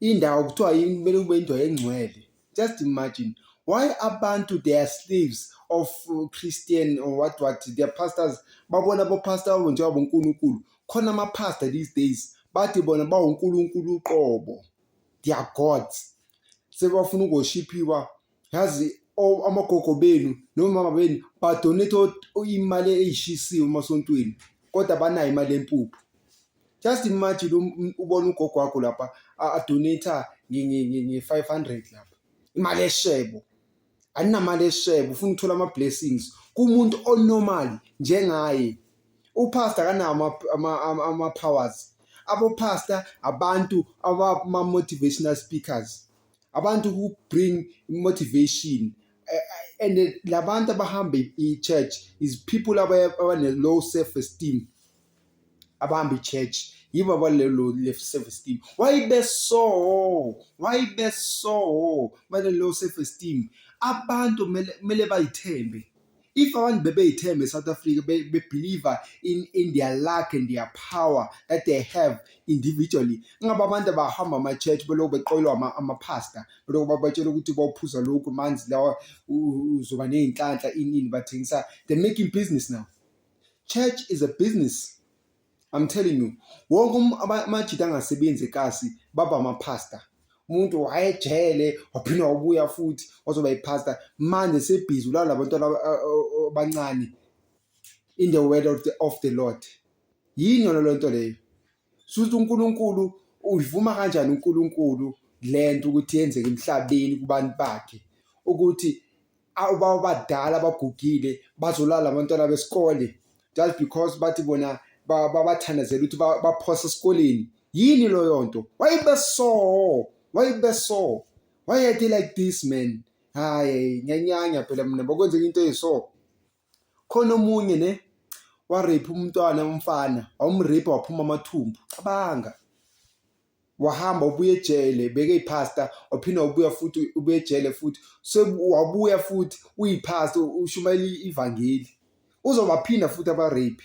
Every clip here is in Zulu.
Indawo kuthiwa yini kumele kube indawo engcwele. Just imagine why abantu they are slaves of uh, Christian or what what their pastors babona bopastor babo njengoba uNkulunkulu khona amapastor these days bathi bona bawuNkulunkulu uqobo they are gods sebafuna ukoshiphiwa yazi amagogo benu nomama benu badonate imali eyishisiwe emasontweni kodwa banayo imali yempuphu just imagine um, ubona ugogo wakho lapha adonata nge-five hundred lapha imali eshebo aninamali eshebo ufuna ukuthola ama-blessings kumuntu onormal njengaye upastor akanawo ama-powers abopastor abantu abama-motivational speakers abantu who bring motivation eh, eh, and eh, labantu abahamba i-church is people abane-low self esteem abahamba i-church yibo abalelo self esteem why beso why beso bane-low self esteem abantu kumele bayithembe if abantu bebeyithemba eSouth Africa bebeliever in, in their luck and their power that they have individually ngabe abantu abahamba ama-church belokhu beqoyelwa amaphasta belokhu babatshela ukuthi bawuphuza lokhu manzi lawa uzoba ney'nhlanhla inini bathengisa they're making business now church is a business I'm telling you wonke um, amajita angasebenzi ekasi baba amapasta umuntu wayejele waphinde wabuya futhi wazoba ipasta manje sebhizi ulala labantwana abancane in the word of the, of the lord yini yona lento leyo suthi unkulunkulu uyivuma kanjani unkulunkulu lento ukuthi yenzeke emhlabeni kubantu bakhe ukuthi abadala abagugile bazolala abantwana besikole just because bathi bona babathandazela ukuthi baphose esikoleni yini loyo nto wayebeso wayebeso wayeyade like this man hayi ngenyanya phela mina bokwenzeka into eyiso khona omunye ne warape umntwana umfana wawumrape waphuma amathumbu cabanga wahamba ubuye ejele beke ipasta waphina ubuya futhi ubuye ejele futhi wabuya futhi uyipasta ushumayela ivangeli uzobaphinda futhi abarape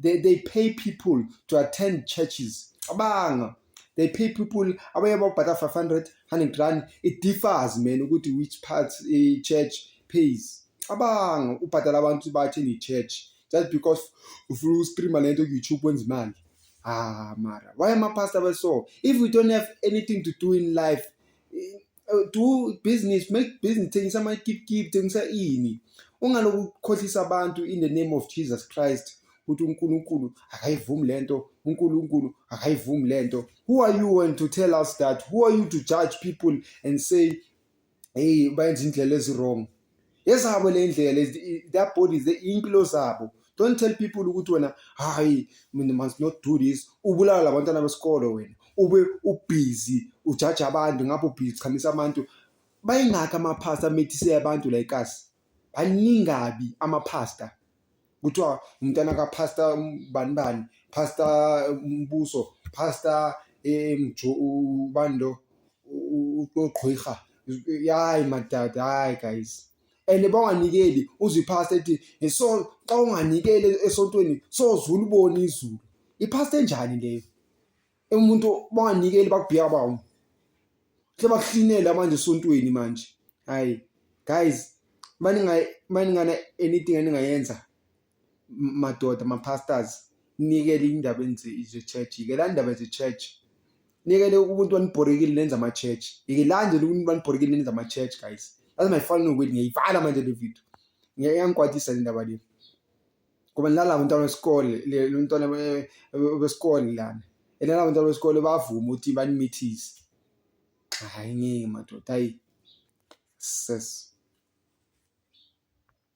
they, they pay people to attend churches cabanga they pay people abanye babhada 500 100 rand it differs man ukuthi which part a church pays cabanga ubhadala abantu bathi ni church just because ufuna uku-streama le nto ku-youtube wenza imali ah mara why amapastor abeso if we don't have anything to do in life uh, do business make business thengisa ama keep keep thengisa ini ungaloku ukhohlisa abantu in the name of Jesus Christ ukuthi uNkulunkulu akayivumi lento uNkulunkulu akayivumi lento who are you and to tell us that who are you to judge people and say hey bayenza indlela ezi wrong ezabo le ndlela their bodies iy'mpilo zabo don't tell people ukuthi wena hayi mina must not do this ubulala labantwana besikolo wena ube ubhizi ujaja abantu ngapho ubhizi uchamisa abantu bayingakho amaphasta amethise abantu la ekasi baningabi amaphasta kuthiwa umntana kapastor bani bani pastor umbuso pastor emjo ubani lo uqhwiha yayi madada hayi guys and banganikeli uzwe ipastor ethi so xa unganikeli esontweni sozulubona izulu ipastor enjani leyo umuntu banganikeli bakubhiya bawo sebakuhlinela manje esontweni manje hayi guys maningana anything eningayenza madoda ma-pastors nikele indaba ze-church yikela ndaba ze-church nikele umuntu wanibhorekile nenza ama-church yikelanje umuntu wanibhorekile nenza ama-church guys that's my final word ngiyayivala manje le video ngiyangikwatisa le ndaba le ngoba nalabo bantwana besikole lo mntwana besikole lana and nalabo bantwana besikole bavume ukuthi banimithise hayi ngeke madoda hayi ses